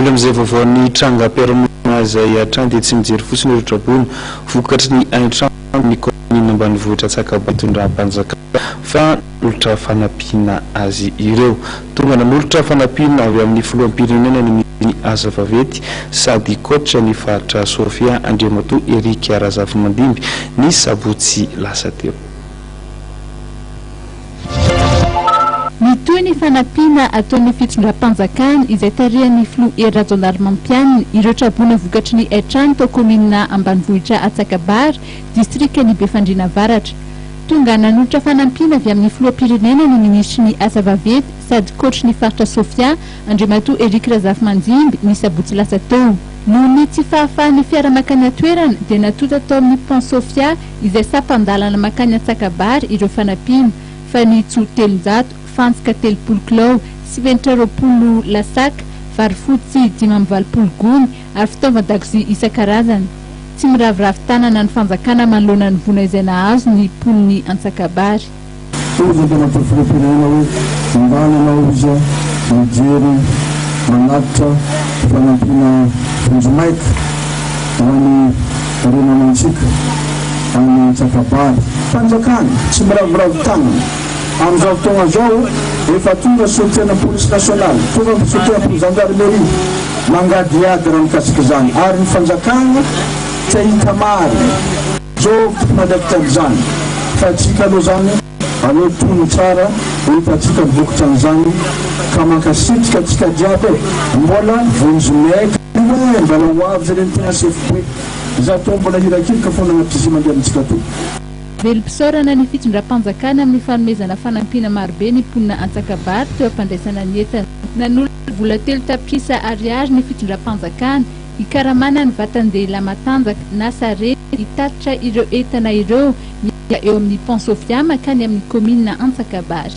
Olona amin'izay vaovaon'ny trangam-piarahamonina izay hatrany dia tsy mijery fotsiny ireo traboina vokatry ny haintrano amin'ny kaominina ambanivohitra Antsakaba itondram-panjakana fa nanolotra fanampiana azy ireo. Tonga nanolotra fanampiana avy amin'ny filoham-pirenena ny minisitry ny asa vaventy sady coach ny faritra Sofia Andriamatoa Eric Razafimandimby ny sabotsy lasa teo. Mitohy ny fanampiana ataon'ny fitondram-panjakana, izay tarihan'ny filoha Hery Rajaonarimampianina, ireo traboina vokatry ny haitrano tao kaominina ambanivohitra Antsakabary, distrikan'i Befandriana Avaratra. Tonga nanolotra fanampiana avy amin'ny filoham-pirenena ny minisitry ny Asa vaventy sady kaoatry ny faritra Sofia, Andriamatoa Eric Razafimanjimby, ny sabotsy lasa teo. Noho ny tsy fahafahan'ny fiara mankany an-toerana, dia natonta tao amin'ny Pont Sofia, izay sampan-dalana mankany Antsakabary ireo fanampiana, fanitso telonjato, fantsika telopolo kilao, simenitra roapolo lasak, vary fotsy dimy amby valopolo gony ary fitaovan-dakozia isan-karazany. Tsy miraviravy tanana ny fanjakana manoloana ny vola izay nahazo ny mponin'i Antsakabary. Hoy ny Tompo filoham-pirenena hoe mandany anao izy mijery manatitra fanampiana vonjimaika ho any renanantsika any Antsakabary. Fanjakana tsy miraviravy tanana amin'izao fotoagna izao efa tonga solotenan'ny polisy nasionaly tonga ny solotenan'ny zandarmeria mangadihady raha mikasika izany ary ny fanjakana te hita marina. Job mpanaiky tamin'izany fa antsika aloha izany aleo tony tsara ho hitantsika ny vokatra an'izany ka mankasitrika antsika jiaby e! Mbola vonjy maigre aloha e! Mbola ho avy jereny tena sefo be! Izaho toa mbola hirakiraka foana anaty bus mandeha amintsika atoa. Velom-pisaorana ny fitondram-panjakana amin'ny fanomezana fanampiana marobe ny mponina Antsakabary teo am-pandraisana ny entana. Nanolo vola telo tapitrisa Ariary ny fitondram-panjakana, Hikaramana ny vatan-dehilahy matanjaka na sarety hitatitra ireo entana ireo miala eo amin'ny Pan Sofia mankany amin'ny kaominina Antsakabary.